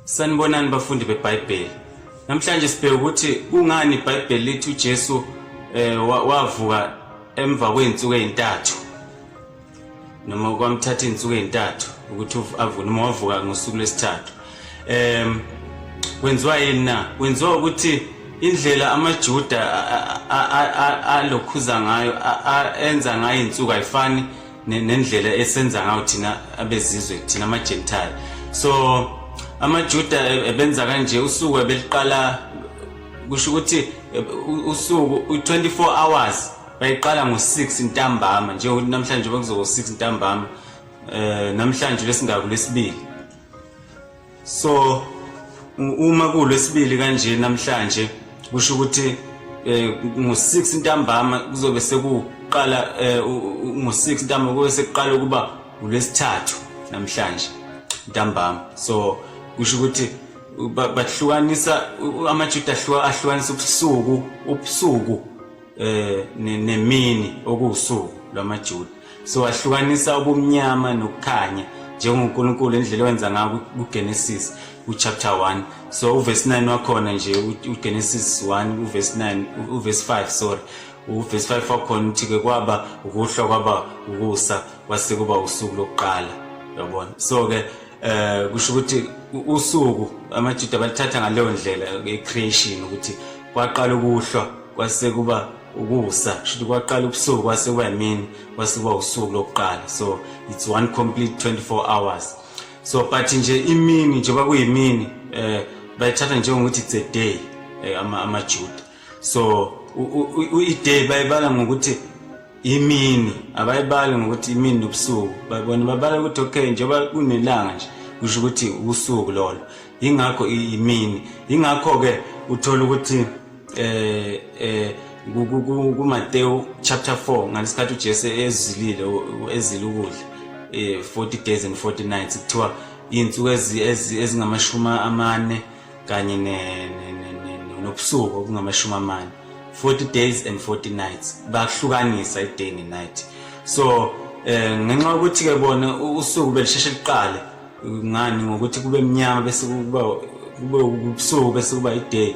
Sanibonani bafundi beBhayibheli. Namhlanje sibheka ukuthi kungani iBhayibheli lithi uJesu eh wavuka emva kweinsuku ezintathu. Noma kwamthatha izinsuku ezintathu ukuthi avune uma wavuka ngosuku lesithathu. Em kwenziwa yini na? Kwenziwa ukuthi indlela amaJuda alokhuza ngayo enza ngayo izinsuku ayifani nendlela esenza ngayo thina abezizwe thina amagentile so amajuda ebenza kanje usuku ebeliqala kusho ukuthi usuku 24 hours bayiqala ngo-6 ntambama njengokuthi namhlanje bekuzoba u-6 ntambama um namhlanje lesingaku lesibili so uma kulwesibili kanje namhlanje kusho ukuthi eh, ngo-6 ntambama kuzobe sekuqala eh, ngo-6 ntambama kube sekuqala ukuba ulwesithathu namhlanje ntambama so kusho ukuthi bahlukanisa amajuda ahlukanisa ubusuku ubusuku eh nemini okuwusuku lwamaJuda siwahlukanisa ubumnyama nokukhanya njengoNkulunkulu indlela owenza ngayo kuGenesis uchapter 1 so uverse 9 wakhona nje uGenesis 1 uverse 9 uverse 5 sorry uverse 5 wakhona uthi ke kwaba ukuhlwa kwaba ukusa kwase kuba usuku lokuqala yabona so ke eh kusho ukuthi usuku amaJuda balithatha ngaleyo ndlela ecreation ukuthi kwaqala ukuhlwa kwase kuba ukusa kushuthi kwaqala ubusuku kwase kuba yimini kwase kuba usuku lokuqala so it's one complete 24 hours so but nje imini njengoba kuyimini eh bayithatha njengokuthi it's a day eh, ama amajuda so i-day bayibala ngokuthi imini abayibali ngokuthi imini nobusuku babona babala ukuthi okay njengoba kunelanga nje kusho ukuthi usuku lolo yingakho imini yingakho-ke uthola ukuthi eh eh kuMateyu chapter 4 ngalesikhathi uJesu ezilile ezile ukudla eh 40 days and 40 nights kuthiwa insuku ezingamashuma amane kanye ne nobusuku obungamashumi amane 40 days and 40 nights bakuhlukanisa i-day ne-night so eh ngenxa yokuthi ke bona usuku belisheshe liqale ngani ngokuthi kube mnyama bese kuba kube ubusuku bese kuba i-day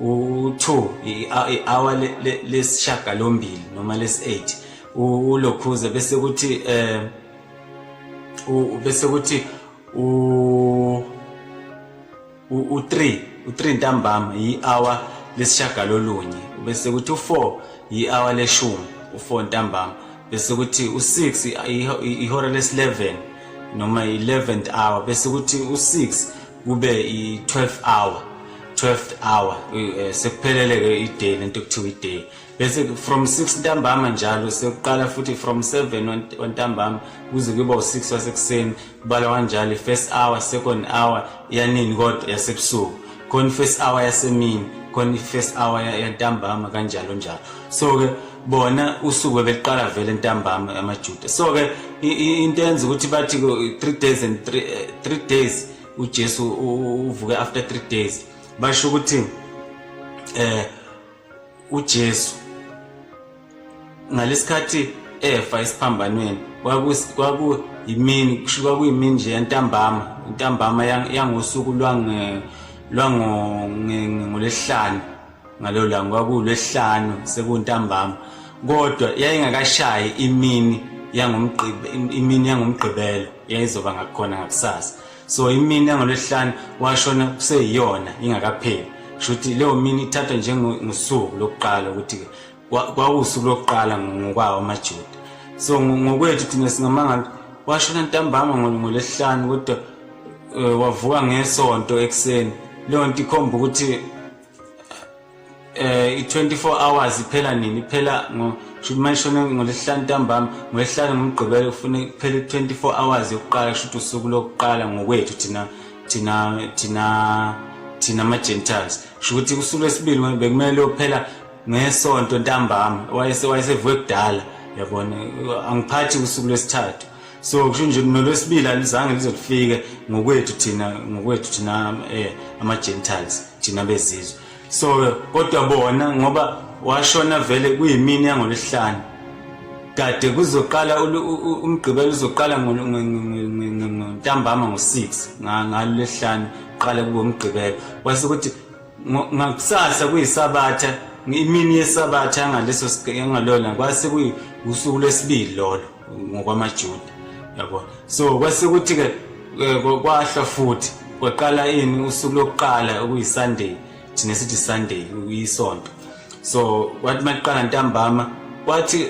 u-two i-hour lesishagalombili noma lesi-eight ulokhuze bese kuthi um bese kuthi u-three u-three ntambama yi-hour lesishagalolunye bese kuthi u-four yi-hour leshumi u-four ntambama bese kuthi u-six ihora lesi-eleven noma i-eleventh hour bese kuthi u-six kube i-12 hour 12 hour eh, sekuphelele ke iday lento kuthiwa iday bese from 6 ntambama njalo sekuqala futhi from 7 ontambama kuze kuba u6 wasekuseni kubala kanjalo first hour second hour yanini kodwa yasebusuku khona first hour yasemini khona first hour yantambama kanjalo njalo so ke bona usuku bebeqala vele ntambama amajuda so ke into yenza ukuthi bathi 3 days and 3 eh, days uJesu uvuke after 3 days basho ukuthi eh uJesu ngalesikhathi efa isiphambanweni kwaku kwaku yimini kusho kwakuyimini nje yantambama intambama yangosuku lwange lwango ngolesihlanu ngalelo langa kwakulwesihlanu sekuntambama kodwa yayingakashayi imini yangomgqibe imini yangomgqibelo yayizoba ngakhona ngakusasa so imini yangolwesihlanu washona kuseyiyona ingakapheli kusho ukuthi leyo mini ithathwa njengosuku lokuqala ukuthi kwawusuku lokuqala ngokwawo amajuda so ngokwethu thina singamangala washona ntambama ngolwesihlanu kodwa eh, wavuka ngesonto ekuseni leyo nto ikhomba ukuthi eh i24 hours iphela nini iphela ngo shuthi mayishona ngolesihlanu ntambama ngolesihlanu ngomgqibelo ufune kuphela 24 hours yokuqala shuthi usuku lokuqala ngokwethu thina thina thina thina ama gentiles shuthi usuku lesibili bekumele uphela ngesonto ntambama wayese wayesevuke kudala yabona angiphathi usuku lesithathu so kusho nje nolwesibili alizange lize lifike ngokwethu thina ngokwethu thina um ama-gentiles thina bezizwe so kodwa bona ngoba washona vele kuyimini yangolwesihlanu kade kuzoqala umgqibelo uzoqala ngontambama ngo-six ngalo lesihlanu qala kubo umgqibelo kwase ukuthi ngakusasa kuyisabatha imini yesabatha angaleso angalona kwase kuwusuku lwesibili lolo ngokwamajuda yabo so kwase kuthi-ke eh, kwahlwa futhi kwaqala ini usuku lokuqala okuyisunday thina sithi sunday uyisonto so kwathi maqala ntambama kwathi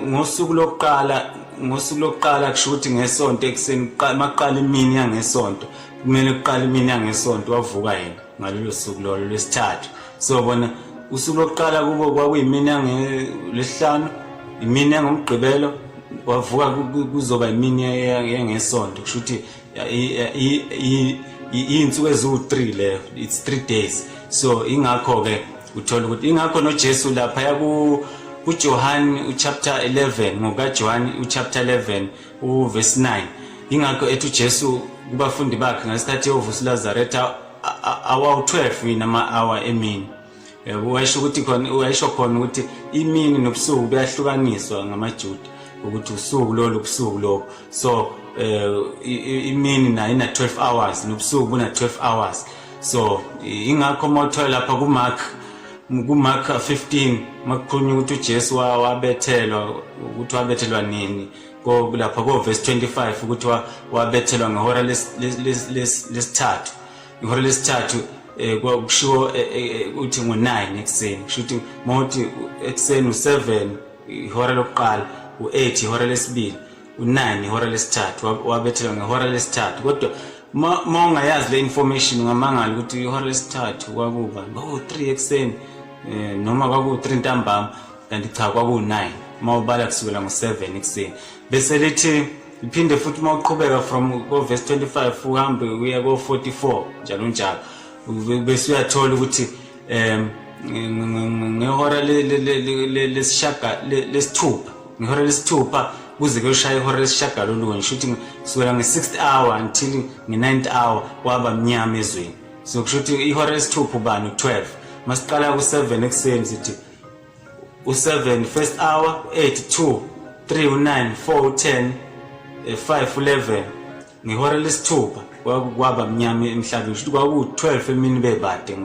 ngosuku lokuqala ngosuku lokuqala kusho ukuthi ngesonto ekuseni maqala imini yangesonto kumele kuqala imini yangesonto wavuka yena ngalolo suku lolo lwesithathu sobona usuku lokuqala kubo kwakuyimini yangelesihlanu imini yangomgqibelo wavuka kuzoba imini yengesonto kusho ukuthi iy'nsuku eziwu-three leyo it's three days so ingakho-ke uthola ukuthi ingakho nojesu laphaya kujohane uchapter 11 ngokajohane uchapter 11 uvesi 9 yingakho ethi ujesu kubafundi bakhe ngesikhathi eyovusa ulazaretha awawu-12 yini ama-awa emini yebo wayesho ukuthi khona wayesho khona ukuthi imini nobusuku buyahlukaniswa ngamajuda ukuthi usuku lolu busuku lokho so eh, imini nayo ina 12 hours nobusuku buna 12 hours so ingakho uma uthola lapha kumark kumark 15 makukhulunywa ukuthi ujesu wabethelwa ukuthi wabethelwa nini lapha kovesi 25 ukuthi wabethelwa ngehora lesithathu ihora lesithathu Eh, kushiwo eh, eh, uthi ngo-9 ekuseni kusho ukuthi mawuthi ekuseni u-7 ihora lokuqala u-8 ihora lesibili u-9 ihora lesithathu wabethelwa ngehora lesithathu kodwa uma ungayazi le information ungamangala ukuthi ihora lesithathu kwakuba kwaku-3 ekuseni um noma kwaku-3 ntambama kanti cha kwaku-9 uma ubala kusukela ngo-7 ekuseni bese lithi liphinde futhi uma uqhubeka from kovesi 25 uhambe uya ko-44 njalo njalo bese uyathola ukuthi um ngehora lesithupha ngehora lesithupha kuze kuyoshaye ihora lesishagalolunye sho ukuthi kusukela nge-sixth hour until nge-ninth hour kwaba mnyama ezweni so kusho ukuthi ihora lesithupha ubani u-twelve masiqala ku-seven ekuseni sithi u-seven first hour u-eight two three u-nine four u-ten eh, five u-eleven ngehora lesithupha kwaba mnyama emhlabeni shuthi kwaku-12 emini bebade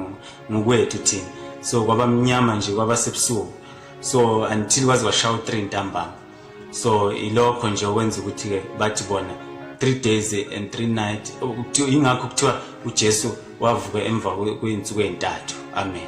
ngokwethu thina so kwaba mnyama nje kwaba sebusuku so until kwaze kwashaya u-3 ntambama so ilokho nje okwenza ukuthi-ke bathi bona three days and three night yingakho kuthiwa ujesu wavuka emva kwey'nsuku ey'ntathu amen